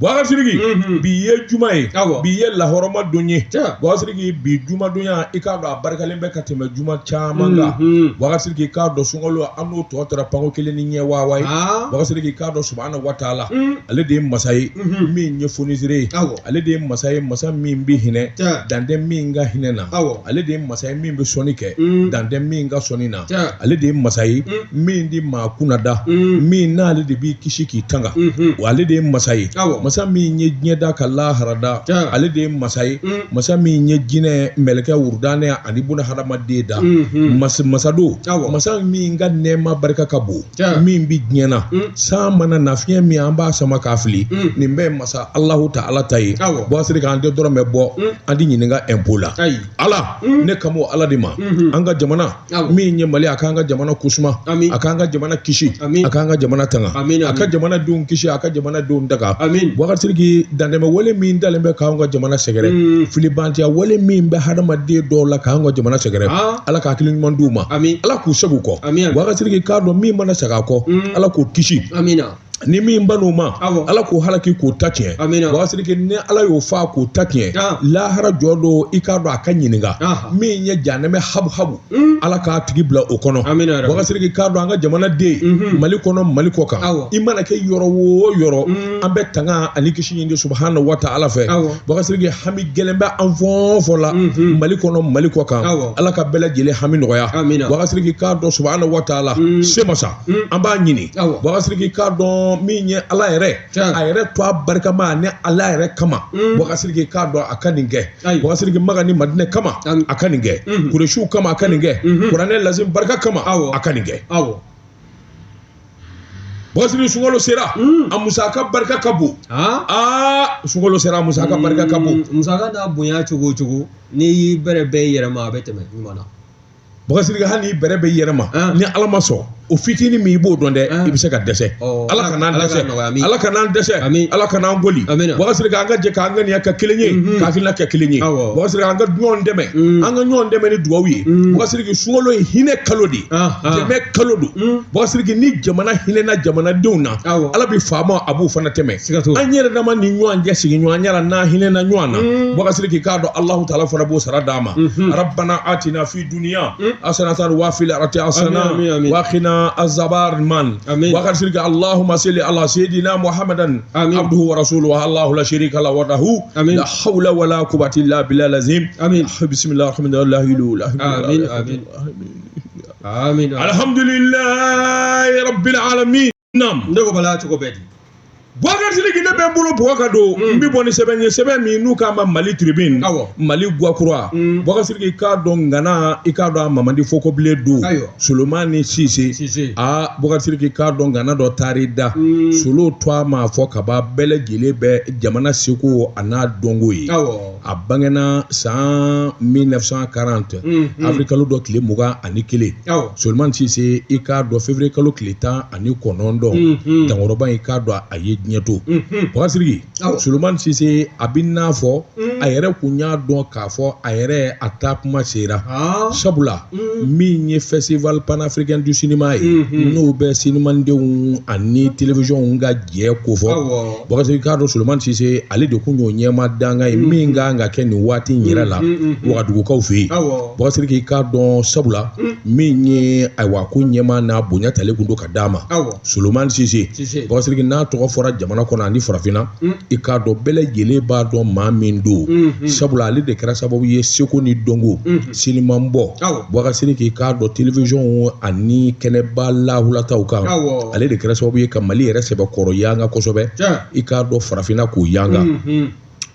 Wakasiriki bi ye juma ye bi ye lahɔrɔma don ye wakasiriki bi jumadonya i k'a dɔn a barikalen bɛ ka tɛmɛ juma caman kan wakasiriki k'a dɔn sunkalo an n'o tɔ taara panko kelen ni ɲɛ wawa wakasiriki k'a dɔn subahanahu wa taala ale de ye masa ye min ye foniseere ye ale de ye masa ye masa min bɛ hinɛ dan tɛ min ka hinɛ na ale de masa ye min bɛ sɔnni kɛ dan tɛ min ka sɔnni na ale de ye masa ye min di maa kunda min na ale de b'i kisi k'i tanga wa ale de ye masa ye masa min ye diɲɛ da ka lahara da ale de ye masa ye masa min ye jinɛ mɛlɛkɛ wurdane ani buna hadamaden da masa masa don masa min ka nɛɛma barika ka bon min bɛ diɲɛ na san mana na fiɲɛ min an b'a sama k'a fili nin bɛɛ masa alahu taala ta ye wakasiriki an de dɔrɔn bɛ bɔ an tɛ ɲininka ɛnpo la ala mm. ne kan bɛ ala de ma mm-hmm. an ka jamana min ye mali a k'an ka jamana kusuma a k'an ka jamana kisi a k'an ka jamana tanga a ka jamana denw kisi a ka jamana denw tanga wakasiriki dantɛmɛ wale min dalen bɛ k'an ka jamana sɛgɛrɛ mm. filibantiya wale min bɛ hadamaden dɔw la k'an ka jamana sɛgɛrɛ ah. ala ka hakili ɲuman d'u ma ala k'u sagi kɔ wakasiriki k'a dɔn min mana sagi kɔ mm. ala k'o kisi ni min ban'o ma ala k'o halaki k'o ta tiɲɛ wasirike ni ala y'o fa k'o ta tiɲɛ lahara jɔ don i k'a dɔn a ka ɲininka min ye jahanama habu habu mm. ala k'a tigi bila o kɔnɔ wasirike k'a dɔn an ka jamana den mm-hmm. mali kɔnɔ mali kɔ kan i mana kɛ yɔrɔ wo yɔrɔ mm. an bɛ tanga ani kisi ɲini subahana wa taala fɛ wasirike hami gɛlɛn bɛ an fɔn fɔ la mm-hmm. mali kɔnɔ mali kɔ kan ala ka bɛɛ lajɛlen hami nɔgɔya wasirike k'a dɔn subahana wa taala mm. se masa an b'a ɲini wasiriki k'a dɔn min ye ala yɛrɛ a yɛrɛ tɔgɔ barikama ni ala yɛrɛ kama wasiriki k'a dɔn a ka nin kɛ wasiriki makan ni madina kama a ka nin kɛ kuresiw kama a ka nin kɛ kuranɛ lazimu barika kama a ka nin kɛ wasiri sunkalo sera a musaka barika ka bon aa sunkalo sera a musaka barika ka bon musaka n'a bonya cogo o cogo n'i y'i bɛrɛ bɛɛ yɛrɛ ma a bɛ tɛmɛ ɲuman na wakasiriki hali n'i bɛrɛ bɛ i yɛrɛ ma ah. ni ala ma sɔn o fitini min i b'o dɔn dɛ ah. i bɛ se ka dɛsɛ oh, ala kan'an dɛsɛ ala kan'an dɛsɛ ala kan'an kɔli wakasiriki an ka jɛ k'an ŋaniya kɛ kelen ye mhm. ka hakilina kɛ kelen ye wakasiriki an ka ɲɔgɔn dɛmɛ mm. an ka ɲɔgɔn dɛmɛ ni dugawu ye mm. wakasiriki sunkalo ye hinɛ kalo de ye ah, dɛmɛ kalo don mm. wakasiriki ni jamana hinɛna jamanadenw na ala bɛ faama a b'u fana dɛmɛ an yɛrɛ dama ni ɲɔgɔn cɛ sigiɲɔgɔnya la n'an hinɛna ɲɔgɔn na wakasiriki k'a dɔn alahu taala fana b'o sara d'an ma rabana atina fi dunya asanatan wa fil akirati asana wakina azaban wakasiriki alahuma seli ala seyidina muhamadan abuduhu wa rasulu alahu la sarika la wadahu la hawula wala kuwata ila bila lazimu bisimilala lahadu amin alhamdulilayi rabbil alamin nam ne ko bala cogo bɛɛ di boubacar sidiki ne bɛ bolo bɔgɔ ka don n bɛ bɔ ni sɛbɛn ye sɛbɛn min n'u k'a ma mali tribune mali gwakura boubacar sidiki k'a dɔn ngana i k'a dɔn a mamadi fokobile don solomani sise aa boubacar sidiki k'a dɔn ngana dɔ taar'i da solo tɔgɔ ma fɔ ka ban bɛɛ lajɛlen bɛ jamana seko a n'a dɔnko ye a bangena san 1940 avril kalo dɔ tile mugan ani kelen solomani sise i k'a dɔn février kalo tile tan ani kɔnɔntɔn dankɔrɔba i k'a dɔn a ye diɲɛ to boubacar sidiki solomani sise a b'i n'a fɔ a yɛrɛ kun y'a dɔn k'a fɔ a yɛrɛ a taa kuma sera sabula min ye festival panafricain du cinéma ye n'o bɛ sinimandenw ani télévision ka jɛ kofɔ Boubacar Sidiki k'a dɔn Solomani Sise ale de kun y'o ɲɛmaa dankan ye min kan ka kɛ nin waati in yɛrɛ la wagadugukaw fɛ yen Boubacar Sidiki i k'a dɔn sabula min ye ayiwa ko ɲɛma n'a bonya talen kun don ka d'a ma Solomani Sise Boubacar Sidiki n'a tɔgɔ fɔra jamana kɔnɔ ani farafinna i k'a dɔn bɛɛ lajɛlen b'a dɔn maa min don sabula ale de kɛra sababu ye seko ni dɔnko sinimanbɔ Boubacar Sidiki k'a dɔn télévision ani kɛnɛba lahulataw kan, awɔ, ale de kɛra sababu ye ka Mali yɛrɛ sɛbɛkɔrɔ yanga kosɛbɛ, tiɲɛ, i k'a dɔn farafinna k'o yanga, unhun,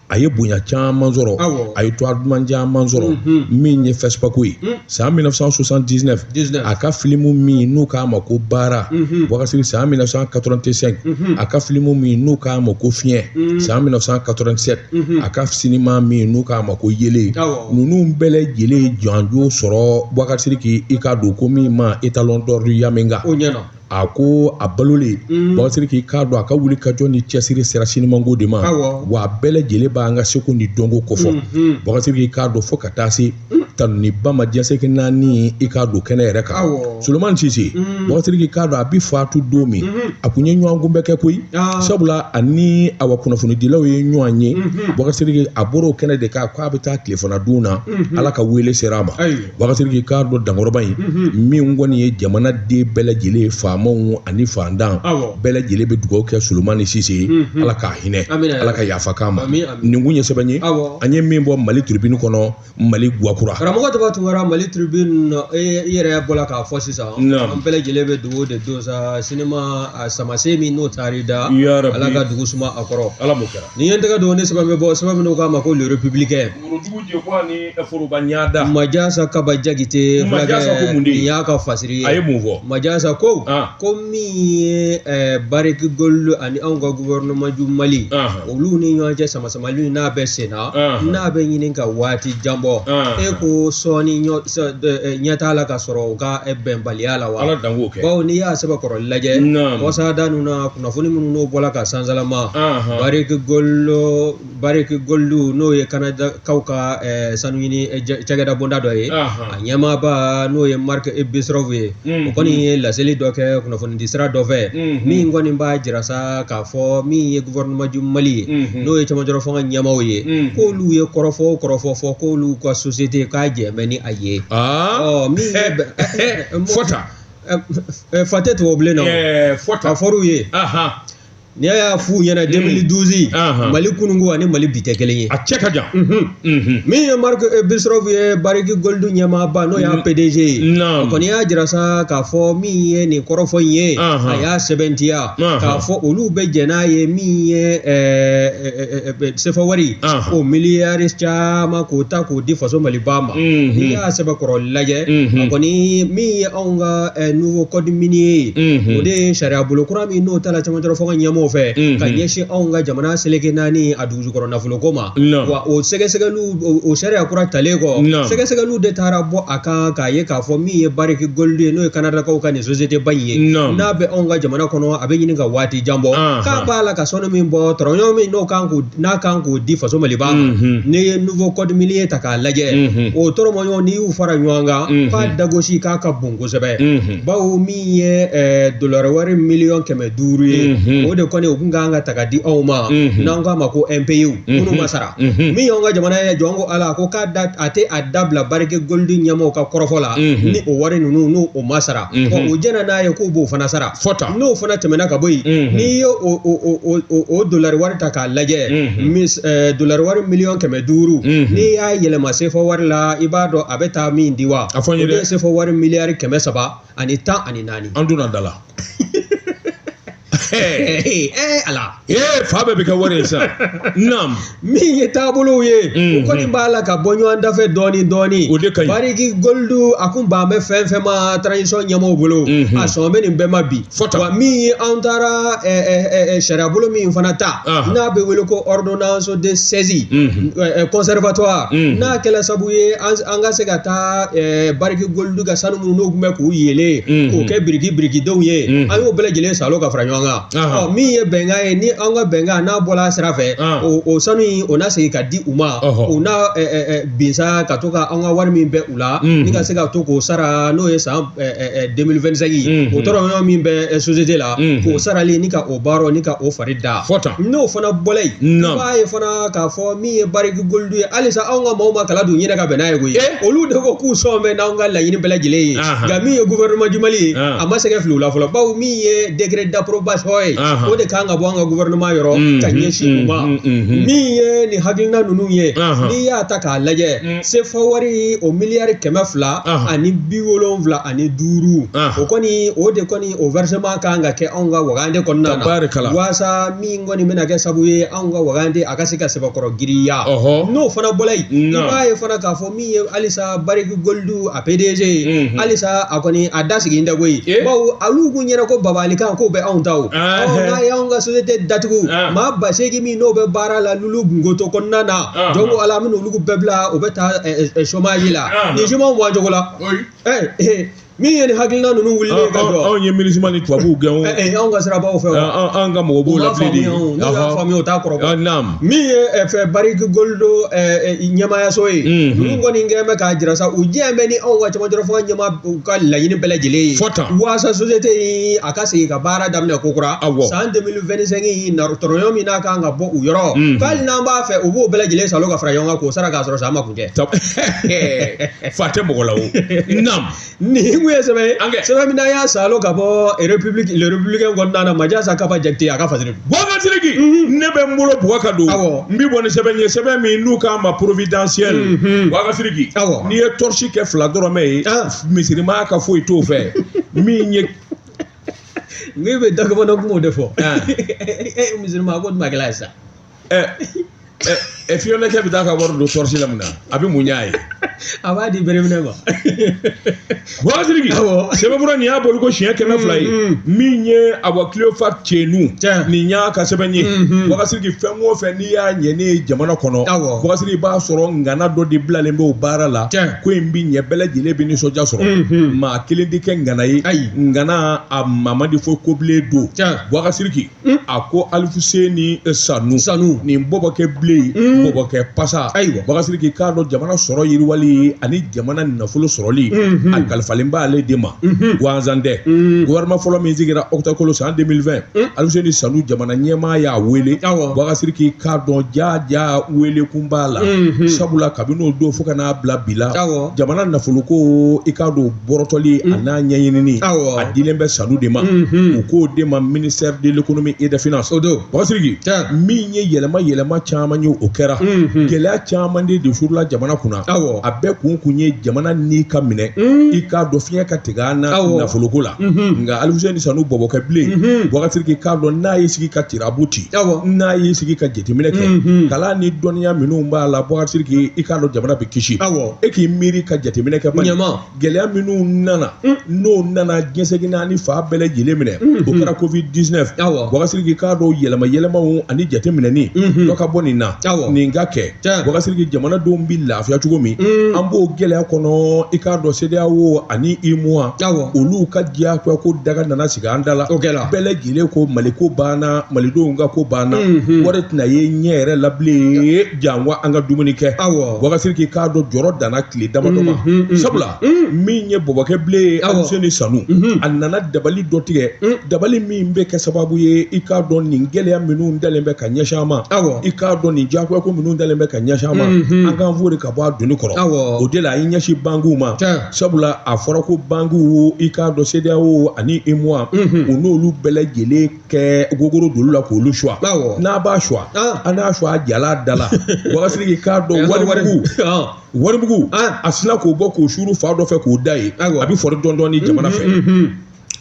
a ye bonya caman sɔrɔ, awɔ, a ye tɔgɔ duman caman sɔrɔ, unhun, min ye FESPACO ye, un, san 1979, 19, a ka film min n'u k'a ma ko baara, unhun, Boubacar Sidiki san 1985, unhun, a ka film min n'u k'a ma ko fiɲɛ, un, san 1987 mhm. a ka sinima min n'u k'a ma ko yeelen ninnu bɛɛ lajɛlen ye jɔnjɔn sɔrɔ boubacar sidiki i k'a dɔn ko min ma étalon d'or yennenga a ko a balolen mhm. boubacar sidiki k'a dɔn a ka wulikajɔ ni cɛsiri sera sinimanko de ma wa a bɛɛ lajɛlen b'an ka seko ni dɔnko kofɔ boubacar sidiki mhm. i k'a dɔn fo ka taa se tanuniba ma diɲɛ seleke naani i k'a dɔn kɛnɛ yɛrɛ kan solomani sise boubacar sidiki k'a dɔn a bɛ faatu don min a kun ye ɲɔgɔnkunbɛn kɛ koyi sabula a ni awa kunnafonidilaw ye ɲɔgɔn ye boubacar sidiki a bɔra o kɛnɛ de kan k'a bɛ taa tilefana dun na ala ka wele sera a ma boubacar sidiki k'a dɔn dankɔrɔba in min kɔni ye jamanaden bɛɛ lajɛlen faamaw ani faantan bɛɛ lajɛlen bɛ dugawu kɛ solomani sise ye ala ka hinɛ a la ka yafa k'a ma nin kun ye sɛbɛn ye an ye min bɔ mali tribune kɔnɔ mali gwakura karamɔgɔ tɔgɔ tunkara mali tribune na e, i yɛrɛ bɔra k'a fɔ sisan an bɛɛ lajɛlen bɛ dugawu de don sa sinima samasen min n'o taar'i da ala ka dugu suma a kɔrɔ ala m'o kɛra nin ye n tɛgɛ don ne sɛbɛn bɛ bɔ sɛbɛn min n'u k'a ma ko le republicain worodugu jɛkɔ ani foroba ɲada majasa kaba jakite majasa ko mun de nin y'a ka fasiri ye a ye mun fɔ majasa ko ko min ye barrick gold ani anw ka gouvernement du mali olu ni ɲɔgɔn cɛ samasamali n'a bɛ senna Ɔnhɔn. n'a bɛ ɲini ka waati jan bɔ Ɔnhɔn. e ko sɔɔni ɲɔ sɔ- dɛ- ɛ, ɲɛ t'a la ka sɔrɔ u ka ɛ, bɛnbaliya la wa ala dan k'o kɛ bawo n'i y'a sɛbɛkɔrɔ lajɛ Naam. wasada ninnu na kunnafoni minnu n'o bɔla ka sansalama Ɔnhɔn. bariki goldu bariki goldu n'o ye kanadakaw ka ɛ, sanuɲini ɛ, jɛ- cakɛda bonda dɔ ye Ɔnhɔn. a ɲɛmaaba n'o ye mark bristow ye Mhm. o kɔni ye laseli dɔ kɛ kunnafonidi sira dɔ fɛ Mhm. min kɔni b'a jira sa k'a fɔ min ye gouvernement du mali ye Mhm. n'o ye cɛmancɛrɔ fanga ɲɛmaaw ye Mhm. k'olu ye kɔrɔfɔ o kɔrɔfɔ fɔ k'olu ka société k'a jɛn bɛ ni a ye Ah, Ɔ, min ye bɛ- eh, fɔta Ɛ, ɛ, fa tɛ tubabu bilen na o. Eh, ka fɔta fɔr'u ye Ahan. n'i y'a f'u ɲɛna 2012 Ahan. mali kununko ani mali bi tɛ kelen ye a cɛ ka jan Mhm. min ye mark eh, bristow ye bariki goldu ɲɛmaaba n'o y'a pdg ye o kɔni y'a jira sa k'a fɔ min ye nin kɔrɔfɔ in ye a y'a sɛmɛntiya k'a fɔ olu bɛ jɛn n'a ye min ye eh, eh, sefa wari o miliyari caman k'o ta k'o di faso maliba ma n'i y'a sɛbɛkɔrɔ lajɛ a kɔni min ye anw ka nouveau code minier ye o de ye sariya bolo kura min n'o tala cɛmancɛrɔ fanga ɲɛmaaw fɛ ka ɲɛsin anw ka jamana seleke naani a dugujukɔrɔ nafolo ko ma wa o sɛgɛsɛgɛliw o sariya kura talen kɔ sɛgɛsɛgɛliw de taara bɔ a kan k'a ye k'a fɔ min ye bariki goldu ye n'o ye kanadakaw ka nin société ba in ye n'a bɛ anw ka jamana kɔnɔ a bɛ ɲini ka waati jan bɔ k'a b'a la ka sanu min bɔ dɔrɔmɛ ɲɔgɔn min n'o kan n'a kan k'o di faso maliba ma n'i ye nouveau code minier ta k'a lajɛ o dɔrɔmɛ ɲɔgɔn n'i y'u fara ɲɔgɔn kan k'a dagosi k'a ka bon kosɛbɛ baw min ye eh, dolari wari miliyɔn kɛmɛ duuru ye mhm. o de kɔni o kun kan ka ta ka di anw ma mhm. n'an k'a ma ko impôts mhm. minnu ma sara min y'anw ka jamana ye jɔn ko ala ko k'a da a tɛ a dabila bariki goldu ɲɛmaaw ka kɔrɔfɔ la ni o wari ninnu n'o o ma sara ɔ o jɛnna n'a ye k'o b'o fana sara fɔta n'o fana tɛmɛna ka bɔ yen n'i ye o o o o o dolari wari ta k'a lajɛ mis eh, dolari wari miliyɔn kɛmɛ duuru n'i y'a yɛlɛma sefa wari la i b'a dɔn a bɛ taa min di wa a fɔ n ye dɛ sefa wari miliyari kɛmɛ saba ani tan ani naani an donna da la ee ala ee fa bɛɛ bɛ kɛ wari ye sisan naam min ye taabolow ye o kɔni b'a la ka bɔ ɲɔgɔn dafɛ dɔɔni dɔɔni o de ka ɲi bariki goldu a kun ban bɛ fɛn fɛn ma transition ɲɛmaaw bolo a sɔn bɛ nin bɛɛ ma bi fɔta wa min ye an taara sariya bolo min fana ta n'a bɛ wele ko ordonnance de saisie conservatoire n'a kɛla sabu ye an ka se ka taa bariki goldu olu ka sanu minnu n'u tun bɛ k'u yeelen k'u kɛ biriki birikidenw ye an y'o bɛɛ lajɛlen salo ka fara ɲɔgɔn kan min ye bɛnkan ye ni an ka bɛnkan n'a bɔra a sira fɛ o sanu in o na segin ka di u ma u na binsa ka to ka an ka wari min bɛ u la ni ka se ka to k'o sara n'o ye san 2025 ye o tɔrɔɲɔ min bɛ sosiyete la k'o sarali ni ka o baara ni ka o fari da n'o fana bɔra yen i b'a ye fana k'a fɔ min ye bariki golidu ye halisa anw ka maaw ma kala don yɛrɛ ka bɛn n'a ye koyi eh? olu de ko k'u sɔn bɛ n'anw ka laɲini bɛɛ lajɛlen ye nka min ye gouvernement du mali ye a ma sɛgɛ fili u la fɔlɔ bawo min ye décret d'approbation ye o de kan ka bɔ an ka gouvernement yɔrɔ mm, ka mm, ɲɛsin u mm, ma min ye nin hakilina ninnu ye n'i y'a ta k'a lajɛ sefa wari o miliyari kɛmɛ fila ani bi wolonwula ani duuru o kɔni o de kɔni o versement kan ka kɛ anw ka wagande kɔnɔna na waasa min kɔni bɛna kɛ sabu ye anw ka wagande a ka se ka sɛbɛkɔrɔ giriya Ɔhɔ. n'o fana bɔla yen i Naam. b'a ye fana k'a fɔ min ye halisa bariki golidu a pdg ye Mhm. halisa a kɔni a da sigi tɛ koyi Eh. bawo olu kun ɲɛ na ko babalikan k'o bɛ anw ta o Ah. Ɔ, n'a ye anw ka société datugu Ah. maa ba seegin min n'o bɛ baara la lulo gunkoto kɔnɔna na Ah. jɔn ko ala an bɛna olu bɛɛ bila u bɛ taa eh, eh, chômage la Ah. nin chômage bɔ a cogo la Oyi. Eh, eh, min ye nin hakilina ninnu wuli ka jɔ anw ye minusma ni tubabuw gɛn o anw ka sirabaw fɛ anw ka mɔgɔ b'o la bilen de n'u y'a faamuya o t'a kɔrɔ min ye bariki golidu ɲɛmaayaso ye ninnu kɔni kɛn bɛ k'a jira sa u diɲɛ bɛ ni anw ka camancɛ fanga ɲɛmaa ka laɲini bɛɛ lajɛlen ye waasa sosiyete in a ka segin ka baara daminɛ ko kura san 2025 in na tɔrɔɲɔ min n'a kan ka bɔ u yɔrɔ hali n'an b'a fɛ u b'o bɛɛ lajɛlen salo ka fara ɲɔgɔn kan k'o sara k'a sɔrɔ sa an ma kun tɛ fa tɛ mɔgɔ la o naam nin kun ye sɛbɛn ye An kɛ. sɛbɛn min n'an y'a salo ka bɔ republique le républicain kɔnɔna na majasa kaba jakite a ka fasiri don boubacar sidiki ne bɛ n bolo bugɔ ka don Awɔ. n bɛ bɔ ni sɛbɛn ye sɛbɛn min n'u k'a ma providentiel Mhm. boubacar sidiki Awɔ. n'i ye tɔrɔsi kɛ fila dɔrɔmɛ ye Ah. misirimaa ka foyi t'o fɛ min ye n'i bɛ dakabana kumaw de fɔ Ah. e misirimaa ko nin ma kɛla ye sa ɛ ɛ fiyɔnɛkɛ bɛ taa ka wari don tɔrɔsi la mun na a bɛ mun y'a ye a b'a di bereminɛ ma boubacar sidiki sɛbɛnfura nin y'a bolo ko siɲɛ kɛmɛ fila ye mm, mm. min ye awa cléophas cenu nin y'a ka sɛbɛn ye mm, boubacar sidiki fɛn o fɛn n'i y'a ɲɛnen ye jamana kɔnɔ boubacar sidiki b'a sɔrɔ ngana dɔ de bilalen bɛ o baara la ko in bɛ ɲɛ bɛɛ lajɛlen bɛ nisɔndiya sɔrɔ maa kelen tɛ kɛ ngana ye ngana a mamadi fo kobilen don boubacar sidiki Mm. a ko Alfuseni eh, Sanu Sanu nin bɔbɔkɛ bilen mm. bɔbɔkɛ pasa ayiwa Bubakari Sidiki k'a dɔn jamana sɔrɔ yiriwali ani jamana nafolo sɔrɔli mm-hmm. a kalifalen b'ale de ma mm-hmm. gansan tɛ mm. gouvernement fɔlɔ min sigira octobre kalo san 2020 Alfuseni Sanu jamana ɲɛmaa y'a wele Bubakari Sidiki i k'a dɔn jaaja wele kun b'a la mm-hmm. sabula kabini o don fo ka n'a bila bi la jamana nafoloko i k'a dɔn bɔrɔtɔli a n'a ɲɛɲinini awɔ. a dilen bɛ Sanu de ma Mhm. u k'o de ma ministère de l'économie et des finances o don Bubakari Sidiki Tiɲɛ. min ye yɛlɛma yɛlɛma caman ye o kɛra Mhm. gɛlɛya caman de suurula jamana kunna Awɔ. a bɛɛ kun kun ye jamana ni ka minɛ Mhm. i k'a dɔn fiɲɛ ka tigɛ an na Awɔ. nafoloko la Mhm. nka Alfuseni Sanu bɔbɔkɛ bilen Mhm. Bubakari Sidiki k'a dɔn n'a y'i sigi ka tirabu ci Awɔ. n'a y'i sigi ka jateminɛ kɛ Mhm. kalan ni dɔnniya minnu b'a la Bubakari Sidiki i k'a dɔn jamana bɛ kisi Awɔ. e k'i miiri ka jateminɛ kɛ bani ɲɛma gɛlɛya minnu nana mm. n'o nana diɲɛ seleke naani fan bɛɛ lajɛlen minɛ mm-hmm. o kɛra covid 19 awɔ Bubakari Sidiki k'a dɔn yɛlɛma yɛlɛmaw ani jateminɛni mm-hmm. dɔ ka bɔ nin na awɔ nin ka kɛ Bubakari Sidiki jamanadenw bi lafiya cogo min mm. an b'o gɛlɛya kɔnɔ i k'a dɔn CEDEAO ani UEMOA awɔ olu ka diyagoya ko daga nana sigi an da la o kɛra bɛɛ lajɛlen ko Mali ko banna Malidenw ka ko banna mm-hmm. wari tɛna ye ɲɛ yɛrɛ la bilen janko an ka dumuni kɛ awɔ Bubakari Sidiki k'a dɔn jɔrɔ danna tile damadɔ ma sabula min ye bɔbɔkɛ bilen ye Alfuseni Sanu a nana dabali dɔ tigɛ dabali min bɛ kɛ sababu ye i k'a dɔn nin gɛlɛya minnu dalen bɛ ka ɲɛsin an ma awɔ i k'a dɔn nin diyagoya ko minnu dalen bɛ ka ɲɛsin an ma an k'an foori ka bɔ a doni kɔrɔ awɔ o de la a y'i ɲɛsin bankiw ma sabula a fɔra ko bankiw i k'a dɔn CEDEAO ani UEMOA u n'olu bɛɛ lajɛlen kɛ gogoro don olu la k'olu suwa awɔ n'a b'a suwa An. an n'a suwa jala da la Bubakari Sidiki k'a dɔn Wari- wari- warimugu Ɔn. warimugu An. a sina k'o bɔ k'o suuru fan dɔ fɛ k'o da yen Awɔ. a bɛ fɔri dɔɔni dɔɔni jamana fɛ Mhm.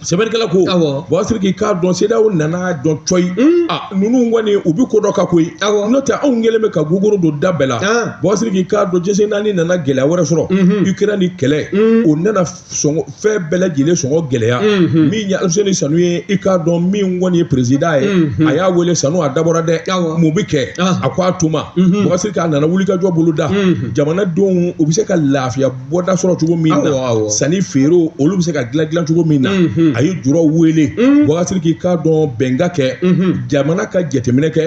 sɛbɛnnikɛla ko Awɔ. Bubakari Sidiki k'a dɔn CEDEAO nan'a dɔn cɔyi a ninnu kɔni u bɛ ko dɔ kan koyi Awɔ. n'o tɛ anw kɛlen bɛ ka gogoro don da bɛɛ la An. Bubakari Sidiki k'a dɔn diɲɛ seleke naani nana gɛlɛya wɛrɛ sɔrɔ Mhm. Ukraine nin kɛlɛ o nana sɔngɔ fɛn bɛɛ lajɛlen sɔngɔ gɛlɛya mhm. min ye Alfuseni Sanu ye i k'a dɔn min kɔni ye perezidan ye mhm. a y'a wele Sanu a dabɔra dɛ mun bɛ kɛ ah. a ko o tuma Bubakari Sidiki mhm. a nana wulikajɔ bolo da jamanadenw u bɛ se ka lafiya bɔda sɔrɔ cogo min na sannifeerew olu bɛ se ka dilan dilan cogo min na a ye juraw wele Bubakari Sidiki k'a dɔn bɛn ka kɛ jamana ka jateminɛ kɛ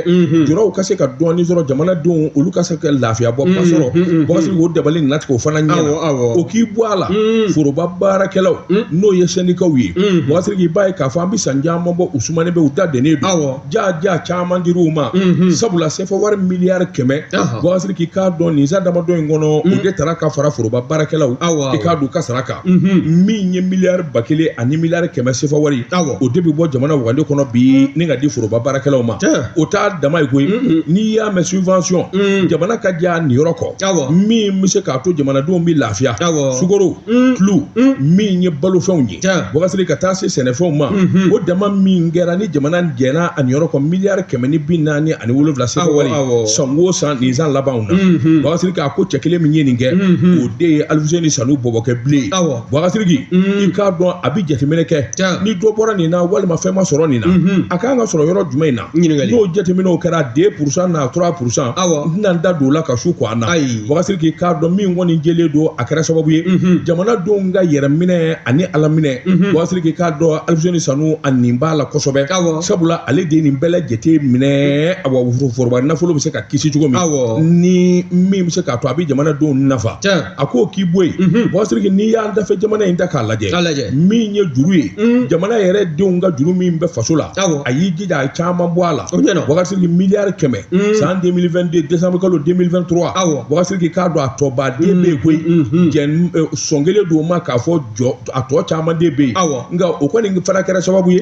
juraw ka se ka dɔɔni sɔrɔ jamanadenw olu ka se ka lafiya bɔda sɔrɔ Bubakari Sidiki o dabali nana tigɛ o fana ɲɛna o k'i bɔ a la foroba baarakɛlaw n'o ye sɛndikaw ye Bubakari Sidiki b'a ye k'a fɔ an bɛ san caman bɔ u sumanen bɛ u da dennen don jaaja caman dir'u ma sabula sefa wari miliyari kɛmɛ Bubakari Sidiki k'a dɔn nin san damadɔ in kɔnɔ o de taara ka fara foroba baarakɛlaw awɔ i k'a dɔn ka sara kan min ye miliyari ba kelen ani miliyari kɛmɛ sefa wari o de bɛ bɔ jamana wagande kɔnɔ bi ni ka di foroba baarakɛlaw ma o t'a dama ye koyi n'i y'a mɛn subvention jamana ka jɛn a niyɔrɔ kɔ min bɛ se k'a to jamanadenw bɛ lafiya sukoro tulu min ye balofɛnw ye Bubakari Siriki ka taa se sɛnɛfɛnw ma o dama min kɛra ni jamana jɛnna a niyɔrɔ kɔ miliyari kɛmɛ ni bi naani ani wolonwula sefa wari san o san nin san labanw na Bubakari Siriki a ko cɛ kelen min ye nin kɛ de ye Alfuseni Sanu bɔbɔkɛ bilen ye Bubakari Siriki i k'a dɔn a bɛ jateminɛ kɛ ni dɔ bɔra nin na walima fɛn ma sɔrɔ nin na a kan ka sɔrɔ yɔrɔ jumɛn in na n'o jateminɛw kɛra deux pour cent na trois pour cent n tɛna n da don o la ka su ko an na Bubakari Siriki i k'a dɔn min kɔni jɛlen don a kɛra sababu ye jamanadenw ka yɛrɛminɛ ani ala minɛ Bubakari Siriki i k'a dɔn Alfuseni Sanu a nin b'a la kosɛbɛ sabula ale de ye nin bɛɛ lajɛlen minɛ a wa foroba nafolo bɛ se ka kisi cogo min awɔ ni min bɛ se k'a to a bɛ jamanadenw nafa tiɲɛ a k'o k'i bɔ yen Mhm. Bubakari Siriki n'i y'an dafɛ jamana in ta k'a lajɛ k'a lajɛ min ye juru ye Mhm. jamana yɛrɛ denw ka juru min bɛ faso la Awɔ. a y'i jija a ye caman bɔ a la o ɲɛna Bubakari Siriki miliyari kɛmɛ Mhm. san 2022 décembre kalo 2023 Awɔ. Bubakari Siriki i k'a dɔn a tɔba de bɛ yen koyi Mhm. jɛn eh, sɔn kelen don o ma k'a fɔ jɔ a tɔ caman de bɛ yen awɔ nka o kɔni fana kɛra sababu ye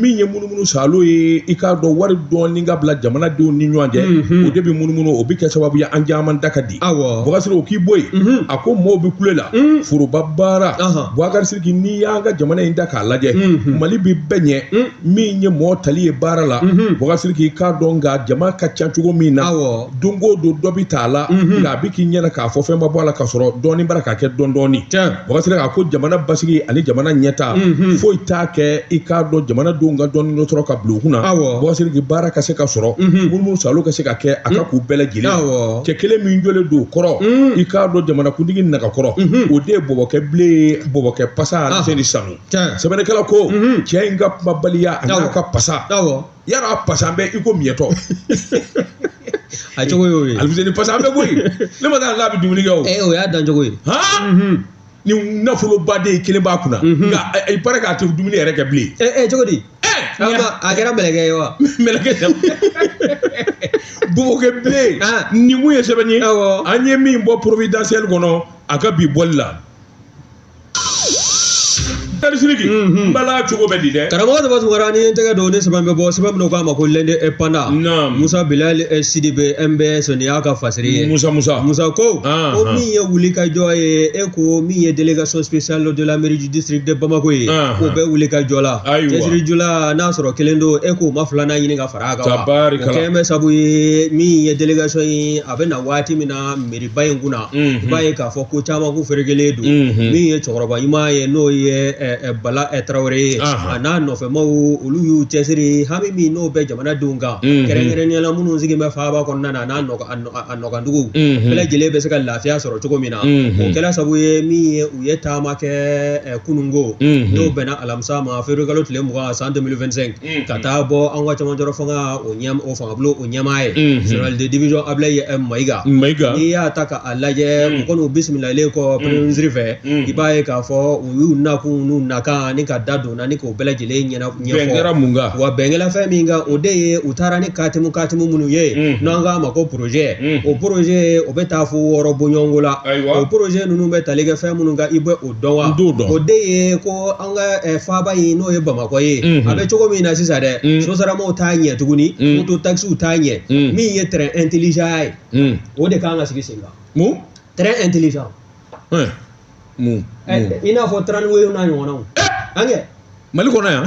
min ye munumunu salo ye i k'a dɔn wari dɔɔni ka bila jamanadenw ni ɲɔgɔn cɛ o de bɛ munumunu o bɛ kɛ sababu ye an caman da ka di awɔ Bubakari Siriki o k'i bɔ yen a ko maaw bɛ kule la foroba baara Bubakari Siriki n'i y'an ka jamana in ta k'a lajɛ Mali bɛ bɛɛ ɲɛ min ye mɔgɔ tali ye baara la Bubakari Siriki i k'a dɔn nka jama ka ca cogo min na don o don dɔ bɛ t'a la nka a bɛ k'i ɲɛna k'a fɔ fɛn ma bɔ a la ka sɔrɔ dɔɔnin bara k'a kɛ dɔndɔɔni Bubakari Siriki a ko jamana basigi ani jamana ɲɛta foyi t'a kɛ i k'a dɔn jamana denw ka dɔɔnin dɔ sɔrɔ ka bila u kunna Bubakari Siriki baara ka se ka sɔrɔ munumunu salo ka se ka kɛ a ka k'u bɛɛ lajɛlen cɛ kelen min jɔlen don o kɔrɔ i k'a dɔn jamanakuntigi nagakɔrɔ o de ye bɔbɔkɛ bilen ye bɔbɔkɛ pasa Alfuseni Sanu sɛbɛnnikɛla ko cɛ in ka kumabaliya a n'a ka pasaya la a pasalen bɛ i ko miɲɛtɔ a cogo y'o ye Alfuseni pasalen bɛ bɔ yen ne ma d'a la a bɛ dumuni kɛ o ee o y'a dan cogo ye han ni nafoloba de kelen b'a kunna nka i b'a ye k'a tɛ dumuni yɛrɛ kɛ bilen ee cogo di a kɛra mɛlɛkɛ ye wa mɛlɛkɛ tɛ bɔbɔkɛ bilen nin mun ye sɛbɛnni ye an ye min bɔ providentiel kɔnɔ a ka bi bɔli la Bubakari Siriki n bala cogo bɛ di dɛ karamɔgɔ Daba Tunkara ni n tɛgɛ don ni sɛbɛn bɛ bɔ sɛbɛn min k'a ma ko L'Indépendant Musa Bilali Sidibe MBS nin y'a ka fasiri ye musa musa musa ko ko min ye wuli ka jɔ ye e ko min ye délégation spéciale de la mairie du district de bamako ye k'o bɛ wuli ka jɔ la cɛsiri jala n'a sɔrɔ kelen don e k'o ma filanan ɲini ka fara a kan wa o kɛlen bɛ sabu ye min ye délégation ye a bɛ na waati min na ba in kunna i b'a ye k'a fɔ ko caman ko ferekelen don min ye cɛkɔrɔba ɲuman ye n'o ye bala tarawele ye a n'a nɔfɛ maaw olu y'u cɛsiri hami min n'o bɛ jamanadenw kan kɛrɛnkɛrɛnnenya la minnu sigi bɛ faaba kɔnɔna na n'a a nɔgandugu bɛɛ lajɛlen bɛ se ka lafiya sɔrɔ cogo min na o kɛra sabu ye min ye u ye taama kɛ kununko n'o bɛnna alamisa ma février kalo tile mugan san deux mille vingt-cinq Mm. ka taa bɔ an ka camancɛrɔ fanga o ɲɛ o fanga bulon o ɲɛmaa ye Mhm. général de division ablaye eh, mayiga mayiga n'i y'a ta k'a lajɛ Mm. u kɔni u bisimilalen kɔ premier ministre fɛ Mm. i b'a ye k'a fɔ u y'u nakun n'u nakan ni ka da donna ni k'o bɛɛ lajɛlen ɲɛna bɛn kɛra ɲɛfɔ mun kan wa bɛn kɛla fɛn min kan o de ye u taara ni katimu katimu minnu ye Mm. n'an k'a ma ko projet Mm. o projet o bɛ taa fo wɔɔrɔ bɔɲɔgɔnko la Ayiwa. o projet ninnu bɛ tali kɛ fɛn minnu kan i bɛ o dɔn wa N t'o dɔn. o de ye ko an ka eh, faaba in n'o ye bamakɔ ye mhm. a bɛ cogo min na sisan dɛ mhm. sotaramaw t'a ɲɛ tuguni mhm. moto takisiw t'a ɲɛ min ye train intelligent ye o de kan ka sigi sen kan mun train intelligent eh, mun eh, i n'a fɔ tramway o n'a ɲɔgɔnnaw an kɛ mali kɔnɔ yan